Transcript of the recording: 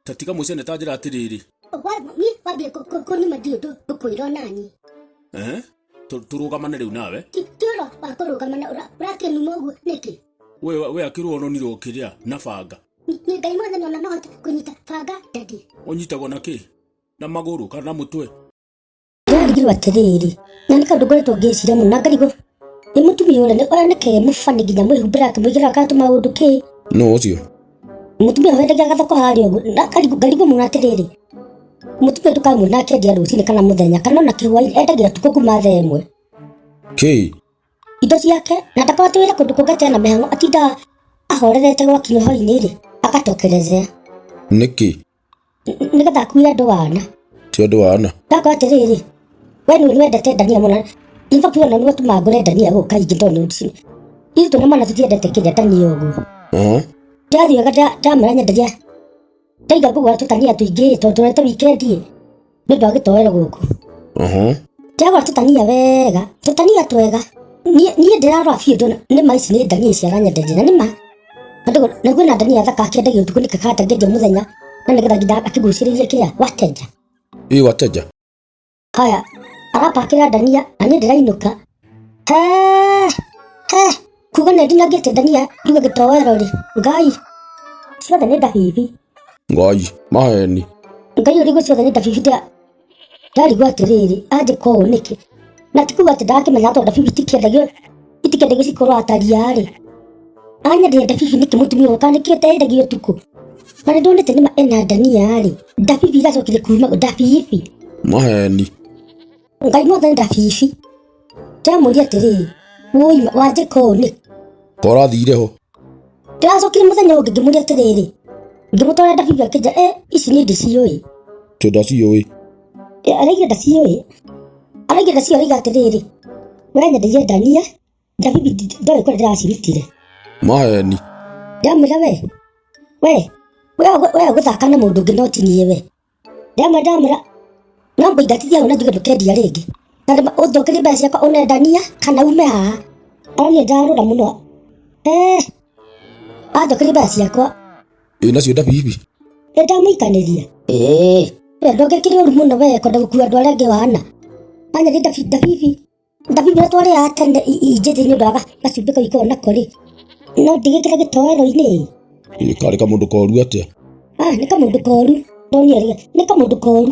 Ta tiga mũcene ta njĩra atĩrĩrĩ. Wa- niĩ wambia kũ- kũ- kũnuma ndiũ ndũ- ndũkwĩra o nani Eh? Tũ- Tũrũgamane rĩu nawe. Ti- ti ũhoro wa kũrũgamana ũra- ũrakĩnuma ũguo nĩkĩ We we akĩrwo ononirwo kĩrĩa na banga. Ni- ni ngai mwothe nona nohote kũnyita banga ndadi Ũnyitagwo na kĩ? Na magũrũ kana na mũtwe? Ndĩrarigirwo atĩrĩrĩ, na nĩ kaũndũ ngoretwo ngĩciria mũno na ngarigwo nĩ mũtumia ũrĩa nĩ- ũrĩa nĩke mũbani nginya mwĩhumbĩra akĩmwĩkĩra akatũma ũndũ kĩ nũ ũcio mũtumia ũyũ endagia gathoko harĩa ũguo na ngarigwo- ngarigwo mũno atĩrĩrĩ mũtumia ndũkamuona akĩendia rũcinĩ kana mũthenya kana ona kĩhwainĩ endagia tukũ kuma thaa ĩmwe kĩi indo ciake na ndakoragwo wĩra kũndũ kũngĩ tena mĩhang'o atindaga ahorerete gwakinya hwainĩ rĩ agatokerezea nĩkĩ nĩgetha akuire andũ wana ti andå wana ndakwa atĩrĩrĩ we nĩ wendete ndania mũno in fact wona nĩwe tũma ngũre ndania gũka ingĩ tondũ nĩ ũndũ ithu tũna mana tũtiendete kĩrĩa ndania ũguo Aha. ndathiaga ndamara nyenderia ndaiga ngũgũra tũtania tũingĩ tondũ tũrete wikendi nĩ ũndũ wa gĩtoero gũkũ Mhm. ndagwa tũtania wega tũtania twega niĩ niĩ ndĩrarora biũ ndona nĩ ma ici nĩ ndania ici aranyenderia na nĩ ma Na ndũgũ- na kwĩna ndania thaka akĩendagia ũtukũ nĩ kakanda ngĩendia mũthenya na nĩgetha nginya akĩgucĩrĩria kĩrĩa watenja Ii wateja. haya arapakĩra ndania na niĩ ndĩrainũka he he kuga nĩ ndinangĩte ndania nduge gĩtoero rĩ ngai ciothe nĩ ndabibi ngai maheni ngai ũrigũ ciothe nĩ ndabibi nda ndarigwo atĩrĩrĩ anjĩka ũũ nĩkĩ na ti kuga atĩ ndakĩmenya tondũ ndabibi itikĩendagio itikĩendagio cikorwo atariarĩ anyendire ndabibi nĩkĩ mũtumia ũka nĩkĩo tendagio ũtukũ na nĩ ndonete nĩma ena ndania-rĩ ndabibi igacokire kuma ndabibi maheni ngai no thenda bibi ndamũria atĩrĩ wũima wanjĩka ũũ nĩ korathire ho ndĩracokire mũthenya ũngĩ ngĩmũria atĩrĩrĩ ngĩmũtwara ndabibi akĩnja e ici nĩ ndĩciũĩ tũnda ciũĩ Eh, araiga ndaciũĩ araiga ndaciũĩ araiga atĩrĩrĩ we nyendeire ndania ndabibi ndi- ndoĩ kũrĩa ndĩracirutire maheni ndamwĩra we we we we gũthaka na mũndũ ũngĩ no tinie we Ya madam ra. No mũingatithia hau na njuge ndũkendia rĩngĩ. Na ndĩma- ũnjokerie mbeca ciakwa ũnendania kana ume haha. Ona niĩ ndarũra mũno. Eh. Anjokerie mbeca ciakwa. Ĩ nacio nda bibi. Nĩ ndamũikanĩria. Ĩĩ. We ndũngĩkĩrĩ ũru mũno we kwenda gũkua andũ arĩa angĩ wana. Anya nĩ ndabi- ndabibi. Ndathimĩ ũrĩa twarĩaga tene i- i njĩthĩ nĩ ũndũ wa ga- gacumbĩ kau ikoragwo nako rĩ no ndigĩkĩre gĩtoero-inĩ Ĩ, karĩ kamũndũ koru atĩa ah, nĩ kamũndũ koru ndonire rĩ nĩ kamũndũ koru